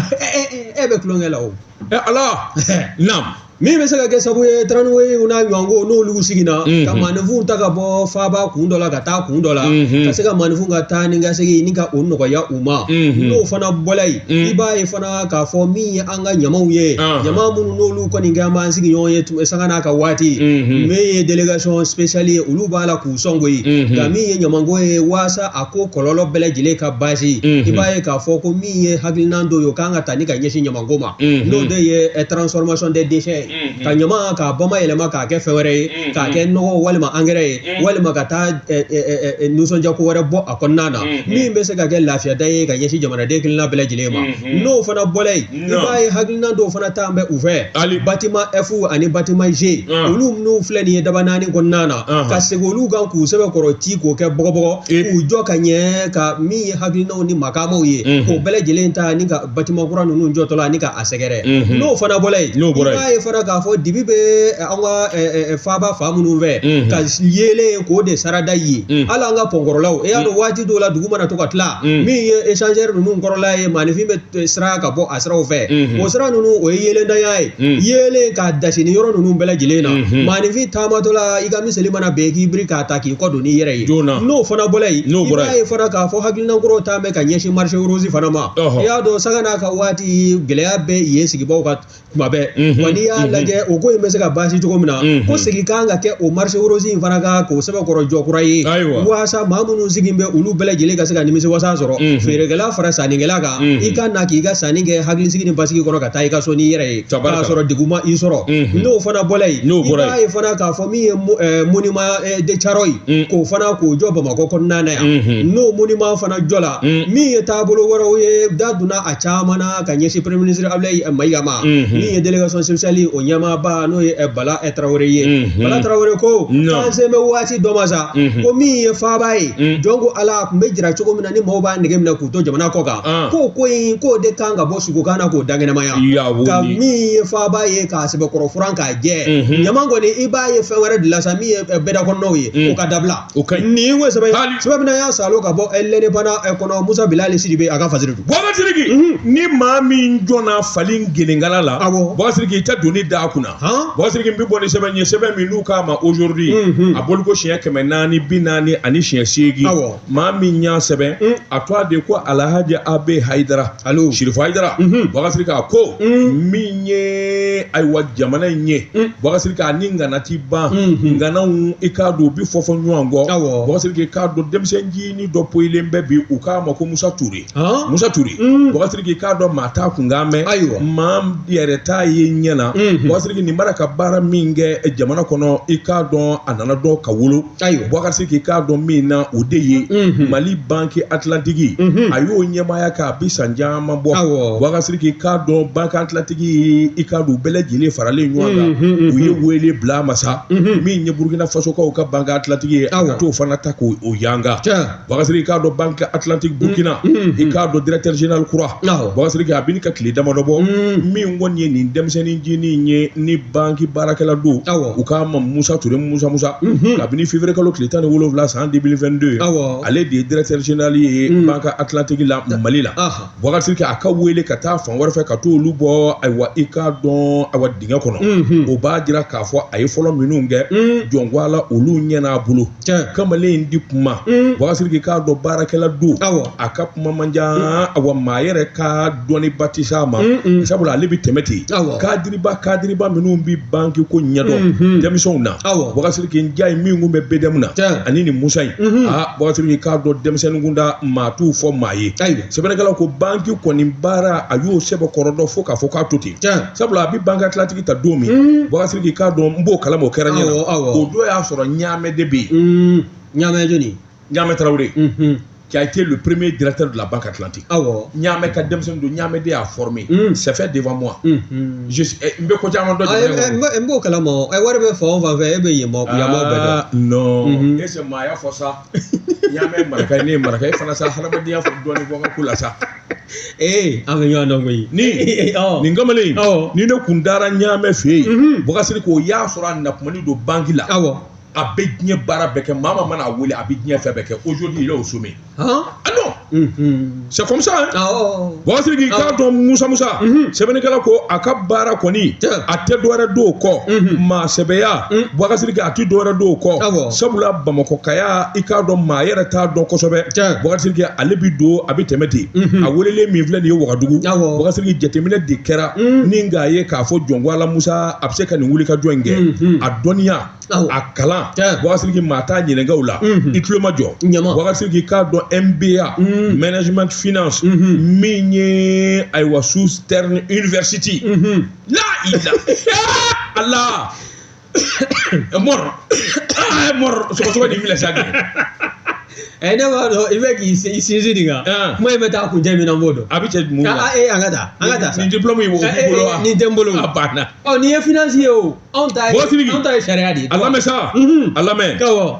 e bɛ tulonkɛ la o ala naam min bɛ se ka kɛ sababu ye tramway o n'a ɲɔgɔn ko n'olu sigira ka maanifinw ta ka bɔ faaba kun dɔ la ka taa kun dɔ la ka se ka maanifinw ka taa ni ka segin ni ka o nɔgɔya u ma n'o fana bɔla yen i b'a ye fana k'a fɔ min ye an ka ɲamaw ye ɲama minnu n'olu kɔni kɛlen b'an sigiɲɔgɔn ye sanga n'a ka waati min ye délégation spéciale ye olu b'a la k'u sɔn koyi nka min ye ɲamanko ye waasa a ko kɔlɔlɔ bɛɛ lajɛlen ka baasi i b'a ye k'a fɔ ko min ye hakilinan dɔ ye o kan ka ta ni ka ɲɛsin ɲamanko ma n'o de ye transformation des déchets ye ka ɲama k'a bamayɛlɛma k'a kɛ fɛn wɛrɛ ye k'a kɛ nɔgɔ walima angɛrɛ ye walima ka taa nisɔndiyako wɛrɛ bɔ a kɔnɔna na min bɛ se ka kɛ lafiyada ye ka ɲɛsin jamanaden kelenna bɛɛ lajɛlen ma n'o fana bɔla yen i b'a ye hakilina dɔw fana ta bɛ u fɛ hali bâtiment F ani bâtiment G olu minnu filɛ nin ye dabanani kɔnɔna na ka segin olu kan k'u sɛbɛkɔrɔ ci k'o kɛ bɔgɔbɔgɔ k'u jɔ ka ɲɛ ka min ye hakilinaw ni makamaw ye k'o bɛɛ lajɛlen ta ni ka bâtiment kura ninnu jɔtɔla ni k'a sɛgɛrɛ mhm. n'o fana bɔra yen n'o bɔra yen i b'a ye fana k'a fɔ dibi bɛ eh, an ka eh, eh, faaba fan minnu fɛ mhm. ka yeelen k'o de sarada ye mhm. hali an ka pɔnkɔrɔlaw e y'a dɔn waati dɔw la dugu mana to ka tila min ye échangeur ninnu kɔrɔla ye maanifin bɛ siran ka bɔ a siraw fɛ o sira ninnu o ye yeelenntanya ye yeelen k'a dasi ni yɔrɔ ninnu bɛɛ lajɛlen na maanifin taamatɔla i ka miseli mana bin k'i biri k'a ta k'i kɔ don n'i yɛrɛ ye n'o fana bɔra yen i b'a ye fana k'a fɔ hakilinankɔrɔw ta ka ɲɛsin marché rose fana ma i y'a dɔn sanga n'a ka waati gɛlɛya bɛ yen sigibaaw kan tuma bɛɛ wa n'i y'a lajɛ o ko in bɛ se ka baasi cogo min na ko segin kan ka kɛ o marché rose in fana kan k'o sɛbɛkɔrɔ jɔ kura ye waasa maa minnu sigi bɛ olu bɛɛ lajɛlen ka se ka nimisiwasa sɔrɔ feerekɛla fara sannikɛla kan i ka na k'i ka sanni kɛ hakilisigi ni basigi kɔnɔ ka taa i ka so n'i yɛrɛ ye k'a sɔrɔ degun ma i sɔrɔ n'o fana bɔra yen n'o bɔra yen i b'a ye fana k'a fɔ min ye monument de carɔyi mm. k'o fana k'o jɔ bamakɔ kɔnɔna na yan mm-hmm. n'o monument fana jɔla mm. min ye taabolo wɛrɛw ye da donna a caman na ka ɲɛsin premier ministre abulayi eh, mayiga ma mm-hmm. min ye délégation spéciale o ɲɛmaaba n'o ye eh, bala eh, tarawele ye mm-hmm. bala tarawele ko k'an sen bɛ waati dɔ ma sa ko min ye faaba ye mm. jɔn ko ala tun bɛ jira cogo min na ni maaw b'a nege minɛ k'u to jamana kɔ kan ah. k'o ko in k'o de kan ka bɔ sugukan na k'o dankɛnɛmaya ka min ye faaba ye k'a sɛbɛkɔrɔ furan k'a jɛ ɲama kɔni i b'a ye fɛn wɛrɛ de la sa min ye bɛdakɔnɔnaw ye o ka dabila o ka ɲi nin ko sɛbɛn sɛbɛn min y'a salo ka bɔ l'indépendant kɔnɔ musa bilali sidibe a ka fasiri don baba siriki ni maa min jɔnna fali gelenkala la awɔ baba siriki i tɛ doni da a kunna baba siriki bɛ bɔ ni sɛbɛn ye sɛbɛn min n'u k'a ma aujourd'hui a bɔliko siɲɛ kɛmɛ naani bi naani ani siɲɛ seegin awɔ maa min y'a sɛbɛn mm. a tɔgɔ de ko alhaji abe hayidara alo shirifu hayidara mm-hmm. bakasiriki a ko mm. min ye ayiwa jamana in ye mm. bakasiriki a ni ngana ti ban mm-hmm. nganaw i k'a dɔn u bi fɔfɔ ɲɔgɔn kɔ bakasiriki i k'a dɔn denmisɛn ncinin dɔ poyilen bɛ bi u k'a ma ko musa ture ah. musa ture bakasiriki i k'a dɔn maa t'a kunkan mɛn ayiwa maa yɛrɛ t'a ye ɲɛ na mm-hmm. bakasiriki nin b'a ra ka baara min kɛ jamana kɔnɔ i k'a dɔn a nana dɔn ka wolo ayiwa bakasiriki i k'a dɔn min na o de ye mali banque Atlantique a y'o ɲɛmaaya kɛ a bi san caman bɔ bakasiriki i k'a dɔn banque Atlantique i k'a dɔn u bɛɛ lajɛlen faralen ɲɔgɔn kan u ye wele bila ma sa min ye burukina fasokaw ka banque Atlantique ye a ka t'o fana ta k'o yanga Bakasiriki i k'a dɔn banque Atlantique Burkina unhun unhun i k'a dɔn directeur général kura awɔ Bakasiriki a bi ɲini ka tile damadɔ bɔ unn min kɔni ye nin denmisɛnnin ncinin in ye nin banque baarakɛla don awɔ u k'a ma Musa Ture Musa Musa unhun kabini février kalo tile 17 san 2022 awɔ ale de ye directeur général ye unn banque Atlantique la Mali la ɔhɔ Bakasiriki a ka wele ka taa fan wɛrɛ fɛ ka t'olu bɔ ayiwa i k'a dɔn awa dingɛ kɔnɔ unhun o b'a jira k'a fɔ a ye fɔlɔ minnu kɛ unn jɔnko Ala olu ɲɛn'a bolo Tiɲɛ. kamalen in ti kuma Mm. bakasiriki i k'a dɔn baarakɛla don Awɔ. a ka kuma man ca awa maa yɛrɛ ka dɔnniba ti s'a ma Mm, mm. sabula ale bɛ tɛmɛ ten Awɔ. kadiriba kadiriba minnu bɛ banki ko ɲɛdɔn Mhm. denmisɛnw na Awɔ. bakasiriki njayi min kun bɛ BDM na Tiɲɛ. ani nin musa in Mhm. aa bakasiriki i k'a dɔn denmisɛnnin kunda maa t'u fɔ maa ye Ayiwa. sɛbɛnnikɛlaw ko banki kɔni baara a y'o sɛbɛkɔrɔ dɔn fo k'a fɔ k'a to ten Tiɲɛ. sabula a bɛ banque Atlantique ta don min bakasiriki i k'a dɔn n b'o kalama o kɛra n ɲɛ na o don y'a sɔrɔ ɲaamɛ de bɛ yen ɲaamɛ jɔni ɲaamɛ tarawele qui a été le premier directeur de la Banque Atlantique. Ah ouais. Ɲaamɛ ka denmisɛnnin don Ɲaamɛ de y'a formé. Mm. C'est fait devant moi. Mm. Mm. Je suis n bɛ ko caman dɔn jamana kɔnɔ. N b'o kalama o. Wari bɛ fan o fan fɛ e bɛ yen mɔgɔw bɛɛ dɔn. Ah non. Mm -hmm. E sɛ maa y'a fɔ sa. Ɲaamɛ maraka ye ne ye maraka ye fana sa hadamadenya fɔ dɔɔnin bɔ n ka ko la sa. ee an bɛ ɲɔgɔn dɔn koyi ni nin kamalen in ni ne kun taara ɲaamɛ fɛ yen bubakari sidiki o y'a sɔrɔ a nakumani don banki la awɔ a bɛ diɲɛ baara bɛɛ kɛ maa maa mana a wele a bɛ diɲɛ fɛn bɛɛ kɛ aujourd'hui il est au sommet ah non c'est comme ça bubakari sidiki k'a dɔn musa musa sɛbɛnnikɛla ko a ka baara kɔni a tɛ dɔwɛrɛ don o kɔ maa sɛbɛya bubakari sidiki a tɛ dɔwɛrɛ don o kɔ sabula bamakɔkaya i k'a dɔn maa yɛrɛ t'a dɔn kosɛbɛ bubakari sidiki ale bɛ don a bɛ tɛmɛ ten a welelen min filɛ nin ye wagadugu bubakari sidiki jateminɛ de kɛra ni k'a ye k'a fɔ jɔn ko ala musa a bɛ se ka nin wulikajɔ in kɛ a dɔnniya a kalan bubakari sidiki maa t'a ɲininka o la i tulo ma jɔ bubakari sidiki k'a dɔn mba management finance min ye ayiwa southern university la i la ala mɔrɔ aa mɔrɔ sɔgɔsɔgɔ de filɛ sa kɛ ɛ ne b'a dɔn i bɛ k'i sin- i sinsin nin kan Ɛn. kuma in bɛ taa kun jɛ min na n b'o dɔn a bɛ cɛ mun Ka- la a- ee an ka taa an ka taa sa nin diplôme in b'o Ɛ, ɛ, bolo ɛ, wa nin tɛ n bolo a banna ɔ nin ye financier ye o anw ta ye Mɔgɔ Sidiki. anw ta ye sariya de ye a lamɛn sa Mhm. a lamɛn Awɔ.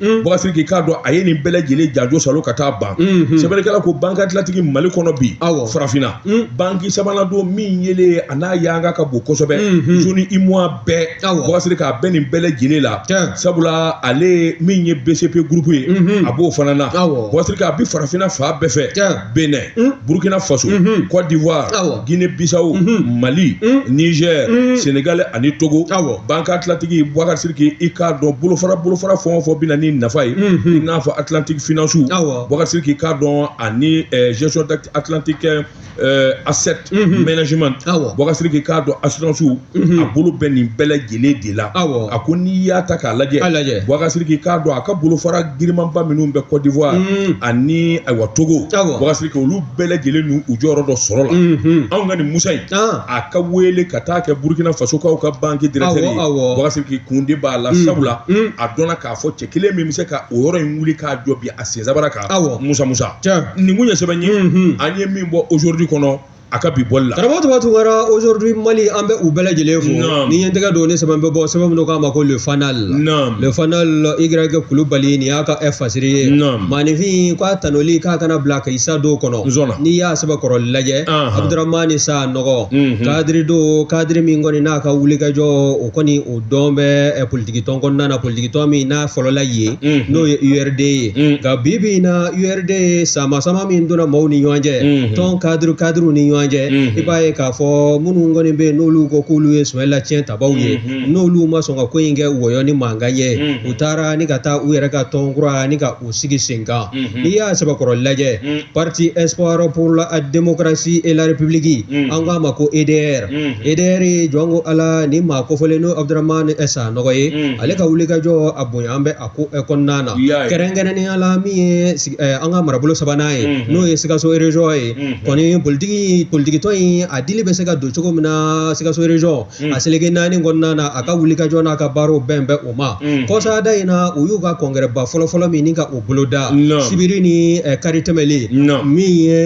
Mm. bubakari sidiki k'a dɔn a ye nin bɛɛ lajɛlen janjo salo ka taa ban mm-hmm. sɛbɛnnikɛla ko banque atlantique mali kɔnɔ bi farafinna mm. banki sabanan don min yeelen a n'a yanga ka bon kosɛbɛ mm-hmm. zone uemoa bɛɛ bubakari sidiki a bɛ nin bɛɛ lajɛlen la sabula ale min ye bcp gurupu ye mm-hmm. a b'o fana na bubakari sidiki a bi farafinna fan bɛɛ fɛ Benin, hmm? Burkina Faso, hmm, hmm. Côte d'Ivoire, ah Guinée-Bissau, Mali, Niger, Sénégal ani Togo. Ah Banque Atlantique, Boubacar Sidiki, i k'a dɔn bolofara bolofara fɛn o fɛn bɛ na ni nafa ye i n'a fɔ Atlantique finance ah Boubacar Sidiki k'a dɔn ani eh, gestion d'Atlantique eh, asset management Boubacar Sidiki k'a dɔn assurance a bolo bɛ nin bɛɛ lajɛlen de la a ko n'i y'a ta k'a lajɛ bubakari sidiki k'a dɔn a ka bolofara girinmanba minnu bɛ kɔdiwari ani ayiwa togo bubakari sidiki olu bɛɛ lajɛlen ninnu u jɔyɔrɔ dɔ sɔrɔla anw ka nin musa in a ka wele ka taa kɛ burukina fasokaw ka banki directeur ye bubakari sidiki kun de b'a la sabula a dɔnna k'a fɔ cɛ kelen min bɛ se ka o yɔrɔ in wuli k'a jɔ bi a sensabara kan aw musa musa nin kun ye sɛbɛn ye an ye min bɔ aujourd'hui kɔnɔ a ka bi bɔli la karamɔgɔ tuma tun kɛra aujourd'hui mali an bɛ u bɛɛ lajɛlen fo Naam. ni ɲɛtɛgɛ don ne sɛbɛn bɛ bɔ sɛbɛn min don k'a ma ko le fanal Naam. le fanal igrɛki kulubali nin y'a ka ɛ fasiri ye Naam. maaninfin k'a tanuli k'a kana bila ka i sa don kɔnɔ Nzɔnna. n'i y'a sɛbɛkɔrɔ lajɛ Ahan. abudurahmani sanɔgɔ Mhm. kadiri don kadiri min kɔni n'a ka wulikajɔ o kɔni o dɔn bɛ eh, politikitɔn kɔnɔna na politikitɔn min n'a fɔlɔla yen mhm. n'o ye urd ye mhm. nka bi bi in na urd sama sama min donna maaw ni ɲɔgɔn cɛ mhm. tɔn kadiri kadiriw ni ɲɔgɔn cɛ i b'a ye k'a fɔ minnu kɔni bɛ yen n'olu ko k'olu ye sumayila cɛntabaw ye n'olu ma sɔn ka ko in kɛ wɔyɔ ni mankan ye u taara ni ka taa u yɛrɛ ka tɔn kura ni ka k'u sigi sen kan n'i y'a sɛbɛkɔrɔ lajɛ parti espoir pour la démocratie et la république an k'a ma ko EDR EDR ye jɔn ko ala ni maa kofɔlen n'o Abdramane Sanɔgɔ ye ale ka wulikajɔ a bonyan bɛ a ko kɔnɔna na kɛrɛnkɛrɛnnenya la min ye an ka marabolo sabanan ye n'o ye Sikaso région ye kɔni politiki politikitɔn in a dili bɛ se ka don cogo min na Sikaso région a seleke naani kɔnɔna na a ka wulikajɔ n'a ka baaraw bɛn bɛ o ma kɔsada in na u y'u ka congrèsba fɔlɔfɔlɔ min ni ka o boloda sibiri ni kari tɛmɛlen min ye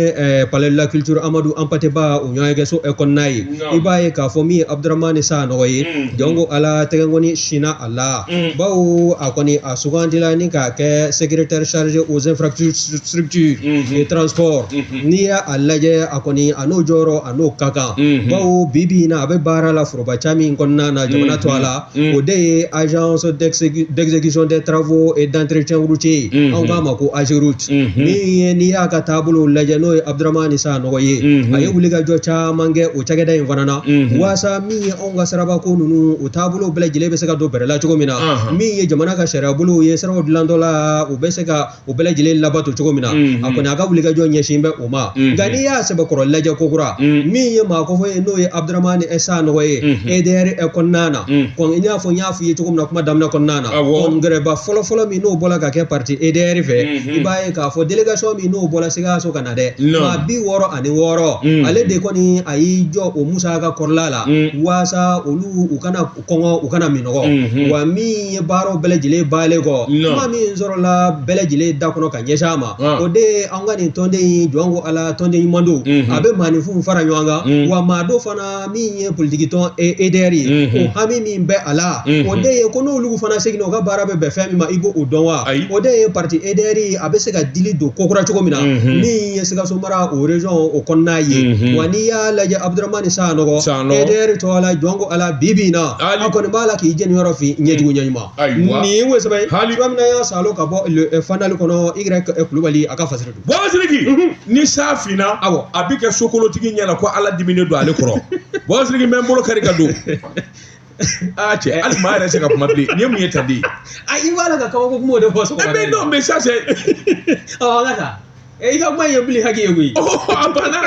Palais de la culture Amadou Hampâté Ba o ɲɔgɔnyekɛso kɔnɔna ye i b'a ye k'a fɔ min ye Abdramane Sanɔgɔ ye jɔn ko ala tɛgɛkɔni sinna a la bawo a kɔni a sugandila ni k'a kɛ secrétaire chargé aux infrastructures et transport n'i y'a a lajɛ a kɔni a n'o jɔyɔrɔ a n'o ka kan bawo bi bi in na a bɛ baara la foroba ca min kɔnɔna na jamana tɔgɔ la o de ye agence d'exécution des travaux et d'entretien routier ye anw k'a ma ko AGEROUTE min ye n'i y'a ka taabolo lajɛ n'o ye Abdramane Sanɔgɔ ye a ye wulikajɔ caman kɛ o cakɛda in fana na waasa min ye anw ka sirabako ninnu o taabolo bɛɛ lajɛlen bɛ se ka don bɛrɛ la cogo min na min ye jamana ka sariyabolow ye siraw dilantɔ la u bɛ se ka o bɛɛ lajɛlen labato cogo min na a kɔni a ka wulikajɔ ɲɛsin bɛ o ma nka n'i y'a sɛbɛkɔrɔ lajɛ kokura min ye maa kofɔ ye n'o ye Abdramane Sanɔgɔ ye EDR kɔnɔna na komi i n'a fɔ n y'a f'i ye cogo min na kuma daminɛ kɔnɔna na congrèsba fɔlɔfɔlɔ min n'o bɔla ka kɛ parti EDR fɛ i b'a ye k'a fɔ délégation min n'o bɔla Sikaso ka na dɛ maa bi wɔɔrɔ ani wɔɔrɔ ale de kɔni a y'i jɔ o musaka kɔrɔla la waasa olu u kana kɔngɔ u kana minɔgɔ wa min ye baaraw bɛɛ lajɛlen banlen kɔ kuma min sɔrɔla bɛɛ lajɛlen da kɔnɔ ka ɲɛsin a ma o de ye an ka nin tɔnden in jɔn ko ala tɔnden ɲuman don a bɛ maaninfinw fara ɲɔgɔn kan wa maa don fana min ye politikitɔn EDR ye o hami min bɛ a la o de ye ko n'olu fana seginna u ka baara bɛ bɛn fɛn min ma i b'o dɔn wa o de ye parti EDR ye a bɛ se ka dili don kokura cogo min na min ye Sikaso mara o région o kɔnɔna ye Mhm. wa n'i y'a lajɛ Abdramane Sanɔgɔ EDR tɔgɔ la jɔn ko ala bibi in na a kɔni b'a la k'i jeniyɔrɔ fin ɲɛjugu ɲɛɲuman nin ye o sɛbɛn ye cogoya min na y'a salo ka bɔ Le Fanal kɔnɔ Y eh, Kulubali a ka fasiri don bɔsiriki ni san finna Awɔ. a bɛ kɛ sokolontigi ɲɛna ko ala diminen don ale kɔrɔ bɔsiriki n bɛ n bolo kari ka don aa cɛ hali maa yɛrɛ tɛ se ka kuma bilen nin ye mun ye tan de ye a i b'a la ka kabako kuma o de fɔ sɔgɔma mais non mais ça c'est ɔ an ka taa i ka kuma ye bili haki ye koyi a banna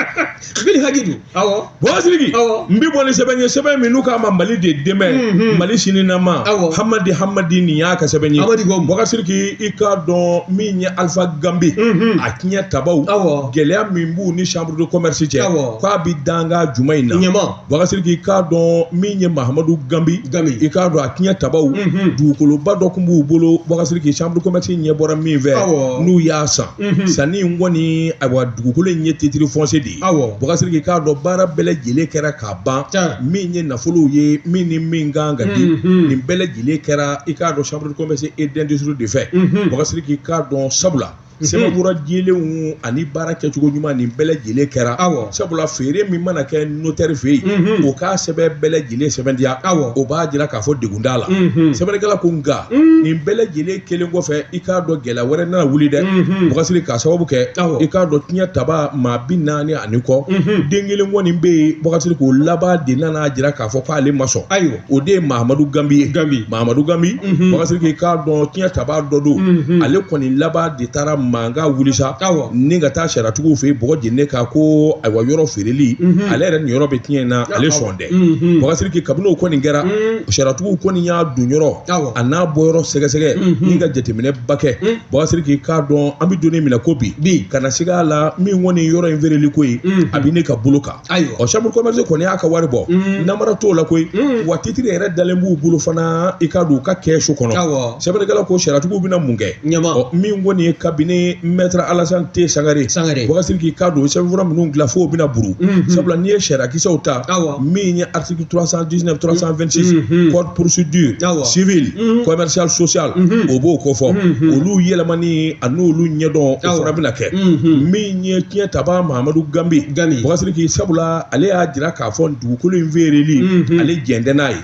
bili haki don awɔ bon Siriki n bɛ bɔ ni sɛbɛn ye sɛbɛn min n'u k'a ma Mali de demain Mali sininama Hamadi Hamadi nin y'a ka sɛbɛn ye Bɔka Siriki i k'a dɔn min ye Alpha Gambi a tiɲɛtabaw gɛlɛya min b'u ni chambre de commerce cɛ k'a bɛ danga juma in na Bɔkari Sidiki k'a dɔn min ye Mahamadu Ganbi, Ganbi, i k'a dɔn a tiɲɛ tabaw, unhun, dugukoloba dɔ tun b'u bolo Bɔkari Sidiki chambre de commerce ɲɛ bɔra min fɛ, awɔ, n'u y'a san, unhun, sanni in kɔni ayiwa dugukolo in ye titre foncier de ye, awɔ, Bɔkari Sidiki k'a dɔn baara bɛɛ lajɛlen kɛra k'a ban, tiɲɛ, min ye nafolow ye min ni min ka kan ka di, unhun, nin bɛɛ lajɛlen kɛra i k'a dɔn chambre de commerce et d'industrie de fɛ, unhun, Bɔkari Sidiki k'a dɔn sabula Mhm. sɛbɛnfura dilenw ani baara kɛcogo ɲuman nin bɛɛ lajɛlen kɛra awɔ sabula feere min mana kɛ notaire fɛ yen mhm. o k'a sɛbɛn bɛɛ lajɛlen sɛbɛntiya awɔ o b'a jira k'a fɔ degun t'a la mhm. sɛbɛnnikɛla ko nka nin bɛɛ lajɛlen kelen kɔfɛ i k'a dɔn gɛlɛya wɛrɛ nana wuli dɛ Bɔkari Sidiki k'a sababu kɛ i k'a dɔn tiɲɛ taba maa bi naani ani kɔ den kelen kɔni bɛ yen Bɔkari Sidiki o laban de nana jira k'a fɔ k'ale ma sɔn ayiwa o de ye mahamadu ganbi ye ganbi mahamadu ganbi bɔkari sidiki k'a dɔn tiɲɛ taba dɔ don ale kɔni laban de taara mankan wuli sa ni ka taa sariyatigiw fɛ yen bɔgɔ jeni kan ko ayiwa yɔrɔ feereli ale yɛrɛ niyɔrɔ bɛ tiɲɛ in na ale sɔn dɛ bɔkari sidiki kabini o kɔni kɛra sariyatigiw kɔni y'a donyɔrɔ an'a bɔyɔrɔ sɛgɛsɛgɛ ni ka jateminɛ ba kɛ bɔkari sidiki k'a dɔn an bɛ don min na i ko bi bi kana siga a la min kɔni yɔrɔ in feereli ko ye a bɛ ne ka bolo kan ayiwa ɔ chambre commerce kɔni y'a ka wari bɔ mm. namara t'o la koyi mm. wa titre yɛrɛ dalen b'u bolo fana i k'a dɔn u ka kɛsu kɔnɔ sɛbɛnnikɛla ko sariyatigiw bɛna mun kɛ ɲɛma min kɔni ye cabinet maître alasan te sangare sangare bɔkari sidiki k'a dɔn sɛbɛnfura minnu dilan fo bɛna buru mm-hmm. sabula n'i ye sariyakisɛw ta min ye article 319 326 code procédure civile mm-hmm. commerciale sociale mm-hmm. o b'o kofɔ olu yɛlɛmani ani olu ɲɛdɔn o fana bɛna kɛ min ye tiɲɛ taba mahamadu ganbi ganbi bɔkari sidiki sabula ale y'a jira k'a fɔ dugukolo in feereli ale jɛn tɛ n'a ye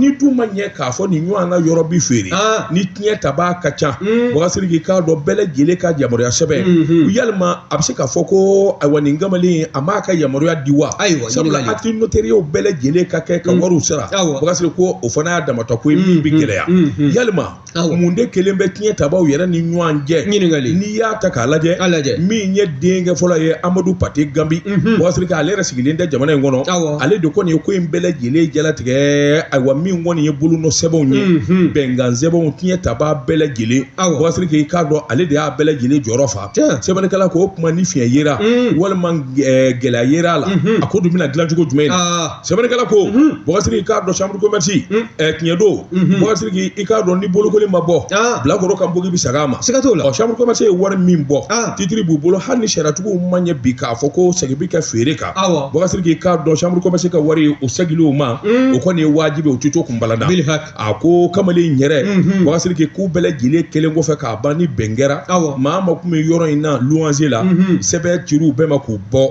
ni dun ma ɲɛ k'a fɔ nin ɲɔgɔnna yɔrɔ bi feere ni tiɲɛ taba ka ca bɔkari sidiki k'a dɔn bɛɛ lajɛlen ka yamaruya sɛbɛn yalima a bɛ se k'a fɔ ko ayiwa nin kamalen a m'a ka yamaruya di wa ayiwa sabula acte notariéw bɛɛ lajɛlen ka kɛ ka wariw sara bɔkari sidiki o fana y'a damatɔ ko ye min bɛ gɛlɛya yalima mun de kelen bɛ tiɲɛ tabaw yɛrɛ ni ɲɔgɔn cɛ ɲininkali n'i y'a ta k'a lajɛ a lajɛ min ye denkɛ fɔlɔ ye amadu pate ganbi bɔkari sidiki ale yɛrɛ sigilen tɛ jamana in kɔnɔ ale de kɔni ye ko in bɛɛ lajɛlen jalatigɛ ayiwa min kɔni ye bolonɔ sɛbɛnw ye bɛnkan sɛbɛnw tiɲɛ taba bɛɛ lajɛlen bɔkari sidiki i k'a dɔn ale de y'a bɛɛ lajɛlen jɔyɔrɔ fa sɛbɛnnikɛla ko o tuma ni fiɲɛ yera walima gɛlɛya yera a la a ko dun bɛna dilan cogo jumɛn sɛbɛnnikɛla ko bɔkari sidiki i k'a dɔn chambre commerce tiɲɛ don bɔkari sidiki i k'a dɔn ni bolokoli ma bɔ bilakoro kan bogi bɛ sag'a ma siga t'o la chambre commerce ye wari min bɔ titre b'u bolo hali ni sariyatigiw ma ɲɛ bi k'a fɔ ko sɛgi bɛ kɛ feere kan bɔkari sidiki i k'a dɔn chambre commerce ka wari o sɛgili o ma o kɔni ye wajibi o tɛ to kunbala da a ko kamalen yɛrɛ bɔkari sidiki k'u bɛɛ lajɛlen kɛlen kɔfɛ k'a ban ni bɛn kɛra maa maa kun bɛ yɔrɔ in na luwanse la sɛbɛn cir'u bɛɛ ma k'u bɔ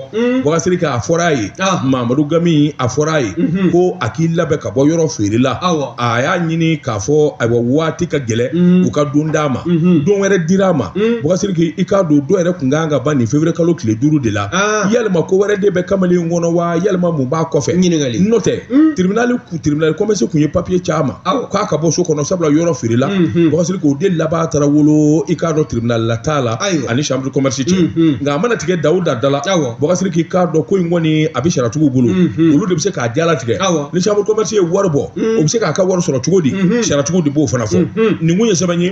bɔkari sidiki a fɔra a ye mamadu gambi a fɔra a ye ko a k'i labɛn ka bɔ yɔrɔ feerela a y'a ɲini k'a fɔ ayiwa waati ka gɛlɛn u ka don d'a ma don wɛrɛ dira a ma bɔkari sidiki i k'a dɔn don yɛrɛ kun ka kan ka ban nin feburuye kalo tile duuru de la yalima ko wɛrɛ de bɛ kamalen kɔnɔ wa yalima mun b'a kɔfɛ n'o tɛ tribunali tribunal commerce kun ye papiye ci a ma k'a ka bɔ so kɔnɔ sabula yɔrɔ feerela bɔkari sidiki o de laban taara wolo i k'a dɔn tribunal la t'a la ani chambre de commerce cɛ nka a mana tigɛ dawuda da la bɔkari sidiki i k'a dɔn ko in kɔni a bɛ sariyatigiw bolo olu de bɛ se k'a jalatigɛ ni chambre commerce ye wari bɔ o bɛ se k'a ka wari sɔrɔ cogo di sariyatigiw de b'o fana fɔ nin kun ye sɛbɛn ye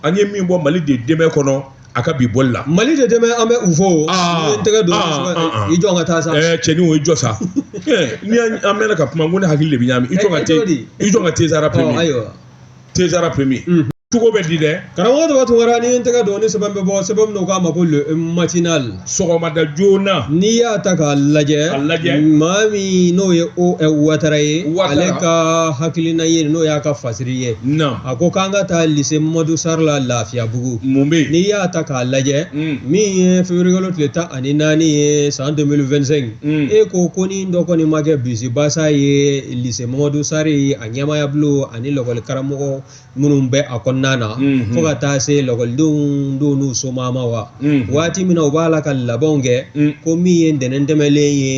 an ye min bɔ mali de demain kɔnɔ a ka bi bɔli la mali de demain an bɛ u fo o Aa, n tɛgɛ don aa, aa, aa. i jɔ ka taa sa ɛɛ cɛni o i jɔ sa Ɛɛ, n'i y'a- an mɛnna ka kuma n ko ne hakili de bɛ ɲami i jɔ ka Ɛ, ɛ, cogo te di? i jɔ ka tezara Ɔ, premier ayiwa tezara premier Mhm. cogo bɛ di dɛ karamɔgɔ dɔ b'a to wɛrɛ n'i ye n tɛgɛ don ni sɛbɛn bɛ bɔ sɛbɛn min na u k'a ma ko le matinal sɔgɔmada joona n'i y'a ta k'a lajɛ A lajɛ. maa min n'o ye o ɛ, watara ye Ouattara. ale ka hakilina ye n'o y'a ka fasiri ye na a ko k'an ka taa lise mamadu sari la lafiyabugu mun bɛ yen n'i y'a ta k'a lajɛ Mm. min ye feburuyekalo tile tan ani naani ye san 2025 Mm. e ko ko ni dɔ kɔni ma kɛ bisibasa ye lise mamadu sari a ɲɛmaayabulon ani lakɔli karamɔgɔ minnu bɛ a kɔnɔna na fo ka taa se lakɔlidenw don n'u somaaw ma wa waati min na u b'a la ka labɛnw kɛ ko min ye ntɛnɛn tɛmɛnlen ye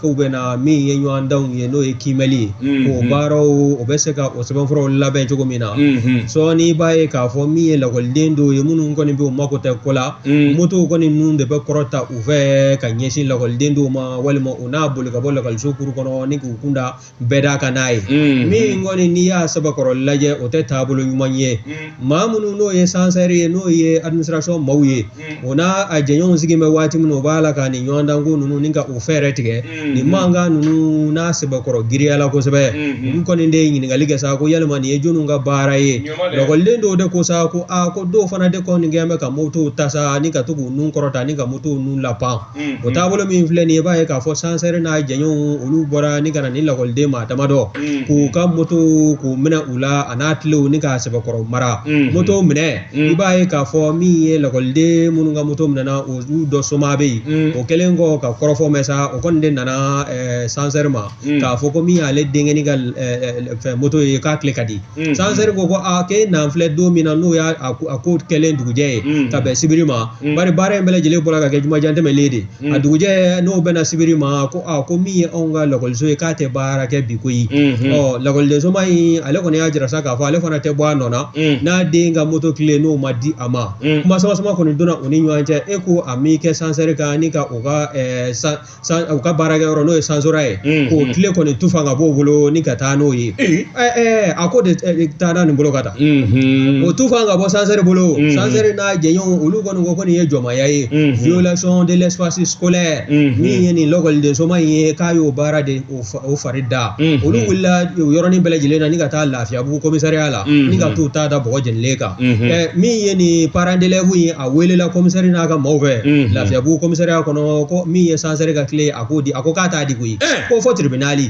k'u bɛna min ye ɲɔgɔndanw ye n'o ye kiimɛli ye o baaraw o bɛ se ka o sɛbɛnfuraw labɛn cogo min na sɔɔni i b'a ye k'a fɔ min ye lakɔliden dɔw ye minnu kɔni bɛ u mako tɛ ko la motow kɔni ninnu de bɛ kɔrɔta u fɛ ka ɲɛsin lakɔliden dɔw ma walima u n'a boli ka bɔ lakɔliso kuru kɔnɔ ni k'u kunda bɛɛ d'a kan n'a ye min kɔni n'i y'a sɛbɛkɔrɔ lajɛ o tɛ taabolo ɲuman ye maa minnu n'o ye sansɛri ye n'o ye administration maaw ye o n'a jɛɲɔgɔnw sigi bɛ waati min o b'a la ka nin ɲɔgɔndanko ninnu ni ka o fɛɛrɛ tigɛ nin mankan ninnu n'a sɛbɛkɔrɔ giriya la kosɛbɛ olu kɔni de ye ɲininkali kɛ sa ko yalima nin ye jɔnniw ka baara ye lakɔliden dɔw de ko sa ko aa ko dɔw fana de kɔni kɛ bɛ ka motow ta sa ni ka to k'u nun kɔrɔta ni ka motow nun lapan o taabolo min filɛ nin ye i b'a ye k'a fɔ sansɛri n'a jɛɲɔgɔnw olu bɔra ni ka na ni lakɔliden maa damadɔ k'u ka moto k'u minɛ u la a n'a kilew ni k'a sɛbɛkɔrɔ mara moto minɛ i b'a ye k'a fɔ min ye lakɔliden minnu ka moto minɛna olu dɔ somaa bɛ yen o kɛlen kɔ ka kɔrɔfɔ mɛn sa o kɔni de nana sansɛri ma k'a fɔ ko min y'ale denkɛni ka fɛn moto ye k'a kile ka di sansɛri ko ko a ke n'an filɛ don min na n'o y'a a ko kɛlen dugujɛ ye ka bɛn sibiri ma bari baara in bɛɛ lajɛlen bɔra ka kɛ jumajan tɛmɛlen de a dugujɛ n'o bɛnna sibiri ma ko a ko min ye anw ka lakɔliso ye k'a tɛ baara kɛ bi koyi ɔ lakɔlidensomaa in ale kɔni y'a jira sa k'a fɔ ale fana tɛ bɔ a nɔ na n'a den ka moto kile n'o ma di a ma kuma sama sama kɔni donna u ni ɲɔgɔn cɛ e ko a m'i kɛ sansɛri kan ni ka o ka u ka baarakɛyɔrɔ n'o ye sansora ye k'o kile kɔni tufa ka b'o bolo ni ka taa n'o ye a ko de taa nin bolo ka taa o tufa ka bɔ sansɛri bolo sansɛri n'a jɛɲɔgɔnw olu kɔni ko ko nin ye jɔnmaya ye violation de l'espace scolaire min ye nin lakɔlidensomaa in ye k'a y'o baara de o fari da olu wulila yɔrɔnin bɛɛ lajɛlen na ni ka taa lafiyabugu kɔmisariya la ni ka t'u ta da bɔgɔ jeninen kan min ye nin parandelɛbu ye a welela kɔmisari n'a ka maaw fɛ lafiyabugu kɔmisariya kɔnɔ ko min ye sansɛri ka kile a k'o di a ko k'a t'a di koyi ko fɔ tiribinali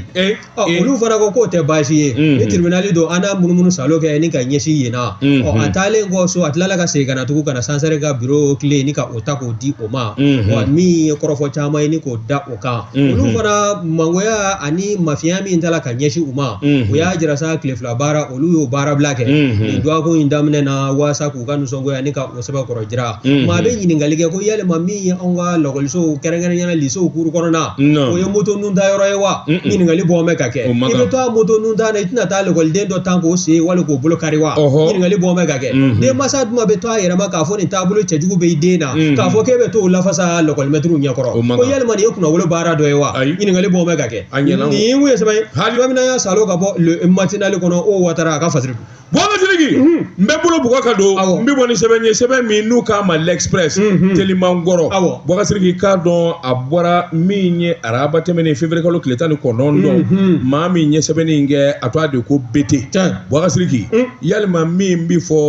olu fana ko k'o tɛ baasi ye ni tiribinali don an n'a munumunu salo kɛ ni ka ɲɛsin yen na a taalen kɔ so a tilala ka segin ka na tugun ka na sansɛri ka biro kile ni ka o ta k'o di o ma wa min ye kɔrɔfɔ caman ye ni k'o da o kan olu fana mangoya ani mafiya min tala ka ɲɛsin u ma o y'a jira sa tile fila baara olu y'o baarabila kɛ nin dɔgɔkun in daminɛ na waasa k'u ka nisɔngoya ni ka o sɛbɛkɔrɔ jira maa bɛ ɲininkali kɛ ko yalima min ye anw ka lakɔlisow kɛrɛnkɛrɛnya na lisew kuru kɔnɔna o ye moto nun ta yɔrɔ ye wa ɲininkali bɔ mɛ ka kɛ i bɛ to a moto nun ta na i tɛna taa lakɔliden dɔ tan k'o sen wali k'o bolo kari wa ɲininkali bɔ mɛ ka kɛ denmansa jumɛn bɛ to a yɛrɛ ma k'a fɔ nin taabolo cɛjugu bɛ i den na k'a fɔ k'e bɛ t'o lafasa lakɔlimɛtiriw ɲɛkɔrɔ ko yalima nin ye kunnawolo baara dɔ ye wa ɲininkali b'o bɛɛ ka kɛ nin ye mun ye sɛbɛn ye hali bamina y'a salo ka bɔ matinali kɔnɔ o watara a ka fasiri bɔgasiriki n bɛ bolo bugɔ ka don n bɛ bɔ ni sɛbɛn ye sɛbɛn min n'u k'a ma l'express teliman kɔrɔ bɔgasiriki k'a dɔn a bɔra min ye araba tɛmɛnen feburuyekalo tile tan ni kɔnɔntɔn don maa min ye sɛbɛnni in kɛ a tɔgɔ de ko bete bɔgasiriki yalima min bɛ fɔ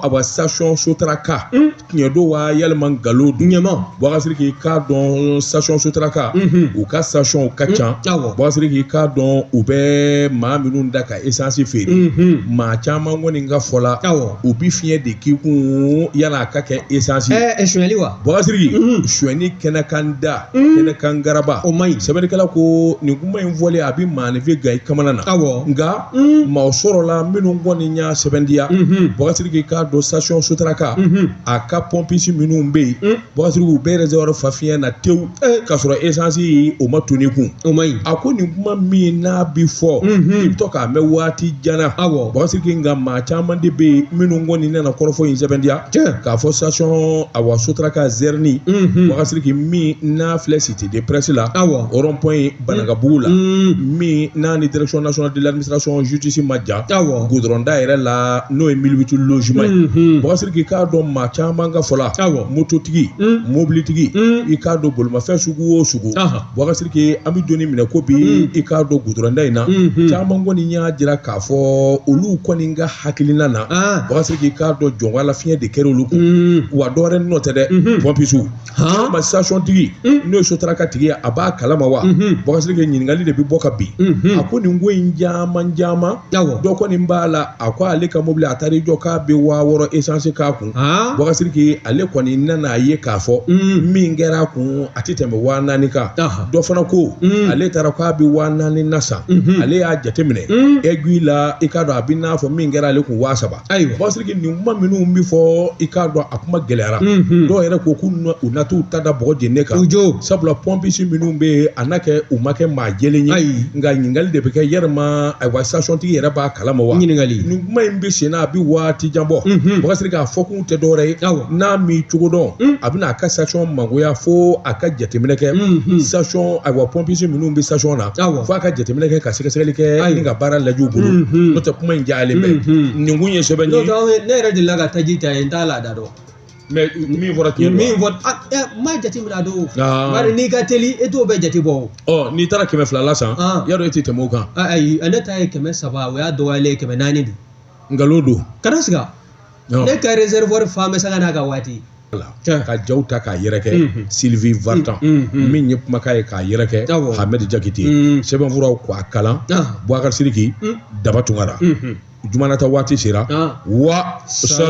awa sitasiyɔn sotaraka tiɲɛ don wa yalima nkalon don ɲɛma bɔgasiriki k'a dɔn sitasiyɔn sotaraka u ka sitasiyɔnw ka ca bɔgasiriki k'a dɔn u bɛ maa minnu da ka esansi feere maa caman kɔni ka fɔ la u bɛ fiɲɛ de k'i kun yala a ka kɛ esansi sonyali wa bɔgasiriki sonyali kɛnɛ kan da kɛnɛ kan garaba o ma ɲi sɛbɛnnikɛla ko nin kuma in fɔlen a bɛ maaninfin gan i kamana na aw nka maa sɔrɔla minnu kɔni y'a sɛbɛndiya bɔgasiriki k'a dɔn sitasiyɔn sotaraka a ka pɔnpisi minnu bɛ yen bɔgasiriki u b'i rezɛriwari fa fiɲɛ na tewu k'a sɔrɔ esansi o ma ton i kun o ma ɲi a ko nin kuma min n'a bi fɔ i bɛ to k'a mɛn waati jan na awɔ bɔgasiriki nka maa caman de bɛ yen minnu kɔni nana kɔrɔfɔ in sɛbɛndiya k'a fɔ sitasiyɔn awa sotaraka zɛrini bɔgasiriki min n'a filɛ site de pɛrɛsi la awɔ rɔnpɔn ye banagabugu la min n'a ni direction nationale de l'administration justice ma jan awɔ goudron da yɛrɛ la n'o ye mille huit logements ye Mhm. bukasiriki i k'a dɔn maa caman ka fɔ la awɔ mototigi Mm. mobilitigi Mm. i k'a dɔn bolimafɛn sugu o sugu Aha. bukasiriki an bɛ donni minɛ ko bi Mm. i k'a dɔn goudron da in na Mhm. caman kɔni y'a jira k'a fɔ olu kɔni ka hakilina na Ah. bukasiriki i k'a dɔn jɔnwala fiɲɛ de kɛra olu kun Mm. wa dɔwɛrɛ nɔ tɛ dɛ Mhm. pɔmpisiw Han ma station tigi n'o ye Sotraka tigi ye a b'a kalama wa bukasiriki ɲininkali de bɛ bɔ ka bin a ko nin ko in caman caman awɔ dɔ kɔni b'a la a ko ale ka mobili a taara i jɔ k'a bɛ waa wɔɔrɔ esansi k'a kun han bukasiriki ale kɔni nana a ye k'a fɔ min kɛra a kun a tɛ tɛmɛ waa naani kan Aha. dɔ fana ko ale taara k'a bɛ waa naani na san ale y'a jateminɛ aiguille la i k'a dɔn a bɛ n'a fɔ min kɛra ale kun waa saba ayiwa bukasiriki nin kuma minnu bɛ fɔ i k'a dɔn a kuma gɛlɛyara dɔw yɛrɛ ko k'u na- u na t'u ta da bɔgɔ jeninen kan U jo. sabula pɔmpisi minnu bɛ yen a na kɛ u ma kɛ maa jɛlen ye Ayi. nka ɲininkali de bɛ kɛ yɛrɛma ayiwa station tigi yɛrɛ b'a kalama wa Ɲininkali. nin kuma in bɛ sen na a bɛ waati jan bɔ Mhm. bukasiriki a fɔkun tɛ dɔwɛrɛ ye Awɔ. n'a m'i cogo dɔn a bɛna a ka station mangoya fo a ka jateminɛ kɛ Mhm. station ayiwa pɔmpisi minnu bɛ station na awɔ f'a ka jateminɛ kɛ ka sɛgɛsɛgɛli kɛ Ayi. ni ka baara lajɛ u bolo Mhm. n'o tɛ kuma in jalen bɛ Mhm. nin kun ye sɛbɛ n'o ye tɛ aw ye- ne yɛrɛ delila ka taji ta yen n t'a laada dɔn mais min fɔra tiɲɛ min don fɔ a ɛ n m'a jateminɛ a don Aa. bari n'i ka teli e t'o bɛɛ jate bɔ o ɔ n'i taara kɛmɛ fila la san Ah. y'a dɔn e tɛ tɛmɛ o kan A- ayi ne ta ye kɛmɛ saba o y'a dɔgɔyalen ye kɛmɛ naani de nkalon don kana siga Ɔ. ne ka réservoir fa bɛ sanga n'a ka waati ka jaw ta k'a yɛrɛkɛ Sylvie Vartan min ye kumakan ye k'a yɛrɛkɛ Hamed Jakite sɛbɛnfuraw ko a kalan bukasiriki Daba Tunkara juma ta waati sera wa sa